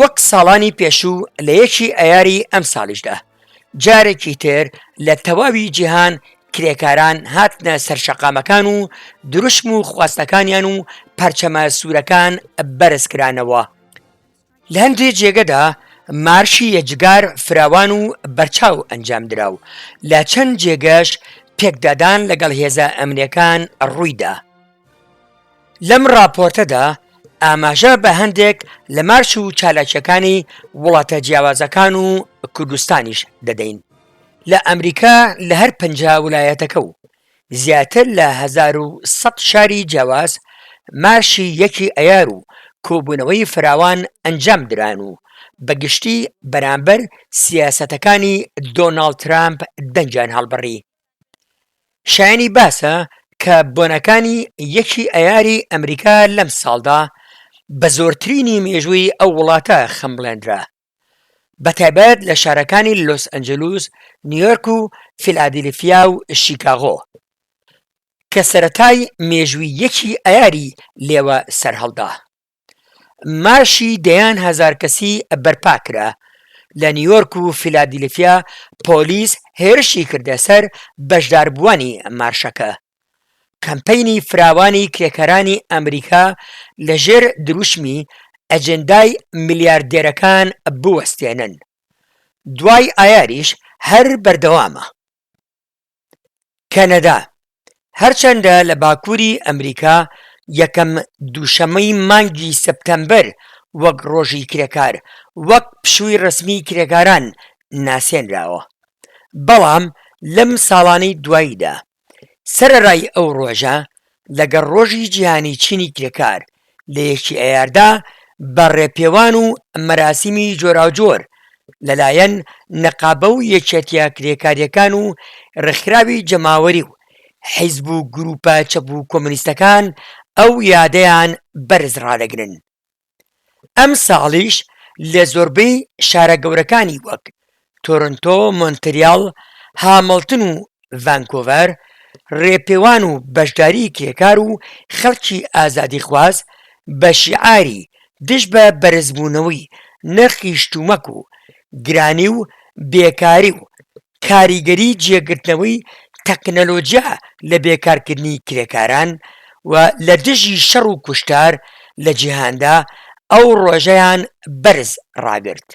وەک ساڵانی پێشوو لە یەکی ئایاری ئەمساڵیشدا جارێکی تر لە تەواوی جیهان کرێکاران هاتنە سەر شەقامەکان و دروشم و خواستەکانیان و پەرچەمە سوورەکان بەرزکرانەوە لە هەندێ جێگەدا مارشی یەجگار فراوان و بەرچاو ئەنجامدرا و لە چەند جێگەش پێکدادان لەگەڵ هێزە ئەمنیەکان ڕوویدا. لەم ڕاپۆرتەدا ئاماژە بە هەندێک لە مارش و چالاکیەکانی وڵاتە جیاوازەکان و کوردستانیش دەدەین لە ئەمریکا لە هەر پنج ولایەتەکە و زیاتر لە ١سە شاری جیاواز مارشی یەکی ئەیار و کۆبوونەوەی فراوان ئەنجام دران و بە گشتی بەرامبەر سیاسەتەکانی دۆناڵد ترامپ دەنگیان هەڵبڕی. شایەنی باسە کە بۆنەکانی یەکی ئەیاری ئەمریکا لەم ساڵدا بە زۆرترینی مێژووی ئەو وڵاتە خەمبڵێندرا بەتایبەت لە شارەکانی لۆس ئەنجلوس نیۆرک و فیلادیلفیا و شیکاغۆ کە سەرەتای مێژووی یەکی ئەیاری لێوە سەرهەڵدا. مارشی دەیان هەزار کەسی بەرپا کرا لە نیویۆرک و فیلادیلفیا پۆلیس هێرشی کردە سەر بەشداربووانی مارشەکە کەمپەینی فراوانی کرێکارانی ئەمریکا لە ژێر دروشمی ئەجندای ملیاردێرەکان بوەستێنن دوای ئایاریش هەر بەردەوامە. کەنەدا، هەرچەندە لە باکووری ئەمریکا یەکەم دووشەممەی مانگی سەپتەمبەر وەک ڕۆژی کرێکار وەک پشووی ڕەسمیی کرێکاران ناسێنراوە، بەڵام لەم ساڵانەی دواییدا سەرەڕای ئەو ڕۆژە لەگەڵ ڕۆژی جیهانی چینی کرێکار لە یەکی ئەیاردا بە ڕێپێوان و مەراسیمی جۆراوجۆر لەلایەن نەقابە و یەکێتیە کرێکاریەکان و ڕێکخراوی جەماوەری و حیزب و گروپە چەپ و کۆمۆنیستەکان ئەو یادەیان بەرز ڕادەگرن. ئەمساڵیش لە زۆربەی شارە گەورەکانی وەک تۆرنتۆ، مۆنتریاڵ، هامڵتن و ڤانکوڤەر ڕێپێوان و بەشداری کرێکار و خەڵکی ئازادیخواز بە شیعاری دژ بە بەرزبوونەوەی نرخی شتومەک و گرانی و بێکاری و کاریگەری جێگرتنەوەی تەکنەلۆجیا لە بێکارکردنی کرێکاران و لە دژی شەڕ و کوشتار لە جیهاندا ئەو ڕۆژەیان بەرز ڕاگرت.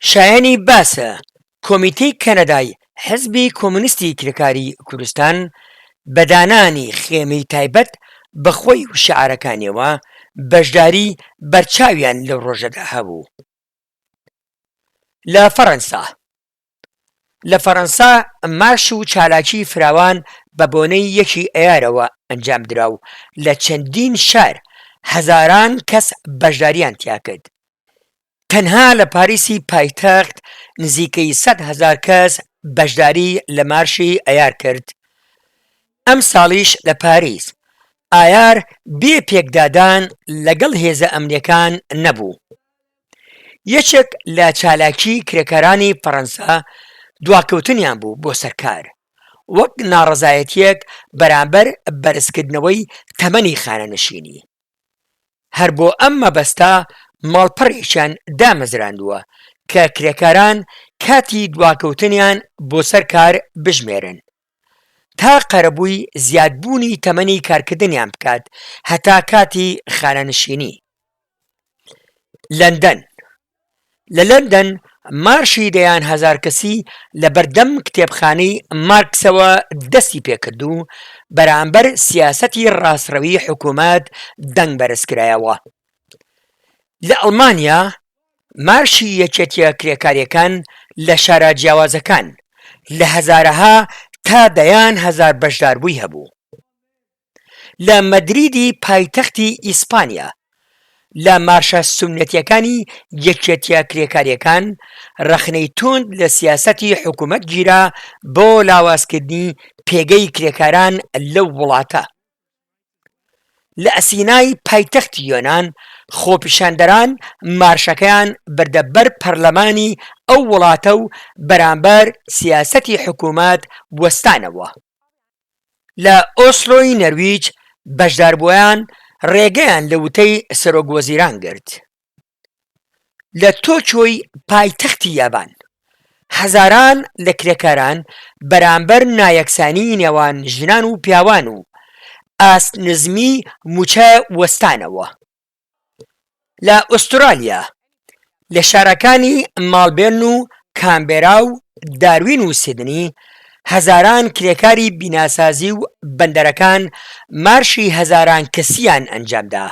شایەنی باسە کۆمیتەی کەنەدای حزبی کۆمۆنیستی کرێکاری کوردستان بە دانانی خێمەی تایبەت بە خۆی و شیعارەکانیەوە بەشداری بەرچاویان لەو ڕۆژەدا هەبوو. لە فەرەنسا لە فەرەنسا مارش و چالاکی فراوان بە بۆنەی یەکی ئەیارەوە ئەنجامدرا و لە چەندین شار هەزاران کەس بەشداریان تیاکرد تەنها لە پاریسی پایتەخت نزیکەی سەد هەزار کەس بەشداری لە مارشی ئەیار کرد ئەم ساڵیش لە پاریس ئایار بێ پێکدادان لەگەڵ هێزە ئەمنیەکان نەبوو یەکێک لە چالاکی کرێکارانی فەرەنسا دواکەوتنیان بوو بۆ سەر کار، وەک ناڕەزایەتییەک بەرامبەر بەرزکردنەوەی تەمەنی خانەنشینی. هەر بۆ ئەم مەبەستە ماڵپەڕێکیان دامەزراندووە کە کرێکاران کاتی دواکەوتنیان بۆ سەر کار بژمێرن. تا قەرەبووی زیادبوونی تەمەنی کارکردنیان بکات هەتا کاتی خانەنشینی. لەندەن، لە لەندەن مارشی دەیان هەزار کەسی لە بەردەم کتێبخانەی مارکسەوە دەستی پێکرد و بەرامبەر سیاسەتی ڕاستڕەوی حکوومەت دەنگ بەرزکرایەوە. لە ئەڵمانیا مارشی یەکێتیە کرێکاریەکان لە شارە جیاوازەکان لە هەزارەها تا دەیان هەزار بەشداربووی هەبوو لە مەدریدی پایتەختی ئیسپانیا لە مارشە سونەتیەکانی یەکێتیە کرێکاریەکان ڕەخنەی توند لە سیاسەتی حکومەت گیرا بۆ لاوازکردنی پێگەی کرێکاران لەو وڵاتە. لە ئەسینای پایتەختی یۆنان، خۆپیشاندەران مارشەکەیان بردە بەر پەرلەمانی ئەو وڵاتە و بەرامبەر سیاسەتی حکومەت وەستانەوە. لە ئۆسلۆی نەرویج بەشداربووەان ڕێگەیان لە وتەی سەرۆک وەزیران گرت. لە تۆکیۆی پایتەختی یابان، هەزاران لە کرێکاران بەرامبەر نایەکسانیی نێوان ژنان و پیاوان و ئاست نزمی مووچە وەستانەوە. لە ئوسترالیا، لە شارەکانی ماڵبێرن و کانبێرا و داروین و سیدنی، هەزاران کرێکاری بیناسازی و بەندەرەکان مارشی هەزاران کەسییان ئەنجامدا.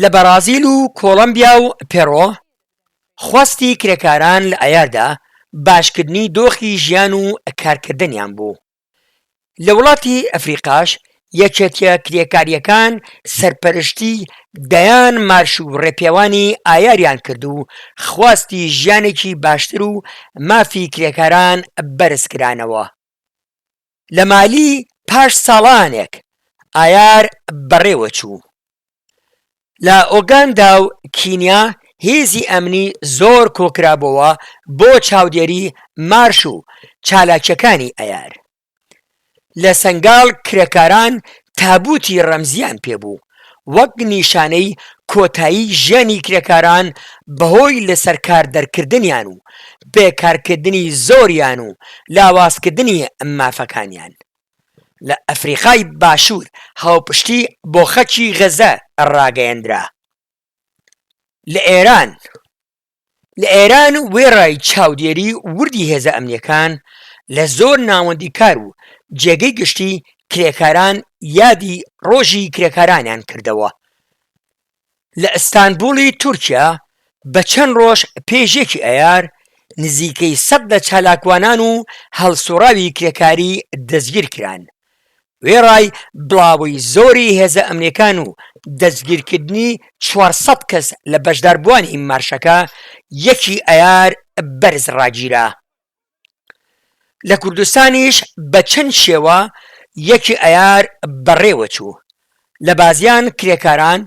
لە بەڕازیل و کۆڵەمبیا و پێڕۆ خواستی کرێکاران لە ئایاردا باشکردنی دۆخی ژیان و کارکردنیان بوو. لە وڵاتی ئەفریقاش یەکێتیە کرێکاریەکان سەرپەرشتی دەیان مارش و ڕێپێوانی ئایاریان کرد و خواستی ژیانێکی باشتر و مافی کرێکاران بەرزکرانەوە. لە مالی پاش ساڵانێک ئایار بەڕێوەچوو. لە ئۆگاندا و کینیا هێزی ئەمنی زۆر کۆکرابۆوە بۆ چاودێری مارش و چالاکیەکانی ئەیار. لە سەنگال کرێکاران تابوتی ڕەمزیان پێبوو. وەک نیشانەی کۆتایی ژیانی کرێکاران بەهۆی لەسەرکاردەرکردنیان و بێکارکردنی زۆریان و لاوازکردنی مافەکانیان لە ئەفریقای باشوور هاوپشتی بۆ خەکی غەزە ڕاگەیەندرا لە ئێران. لە ئێران وێڕای چاودێری وردی هێزە ئەمنییەکان لە زۆر ناوەندی کار و جێگەی گشتی کرێکاران یادی ڕۆژی کرێکارانیان کردەوە لە ئەستانبوڵی تورکیا بە چەند ڕۆژ پێش یەکی ئەیار نزیکەی سەد لە چالاکوانان و هەڵسوڕاوی کرێکاری دەستگیرکران وێڕای بڵاوەی زۆری هێزە ئەمنییەکان و دەستگیرکردنی چوار سەد کەس لە بەشداربووانی مارشەکە، یەکی ئەیار بەرز ڕاگیرا. لە کوردستانیش بە چەند شێوە یەکی ئەیار بەڕێوەچوو، لە بازیان کرێکاران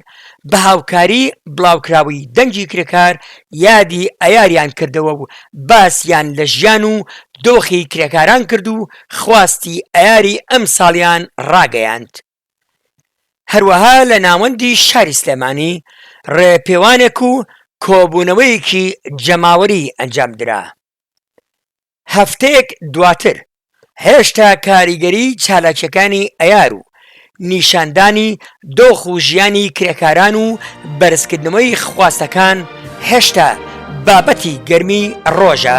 بە هاوکاری بڵاوکراوەی دەنگی کرێکار یادی ئەیاریان کردەوە و باسیان لە ژیان و دۆخی کرێکاران کرد و خواستی ئەیاری ئەمساڵیان ڕاگەیاند. هەروەها لە ناوەندی شاری سلێمانی ڕێپێوانێک و کۆبوونەوەیەکی جەماوەری ئەنجامدرا. هەفتەیەک دواتر، هێشتا کاریگەری چالاکییەکانی ئەیار و نیشاندانی دۆخ و ژیانی کرێکاران و بەرزکردنەوەی خواستەکان هێشتا بابەتی گەرمی ڕۆژە.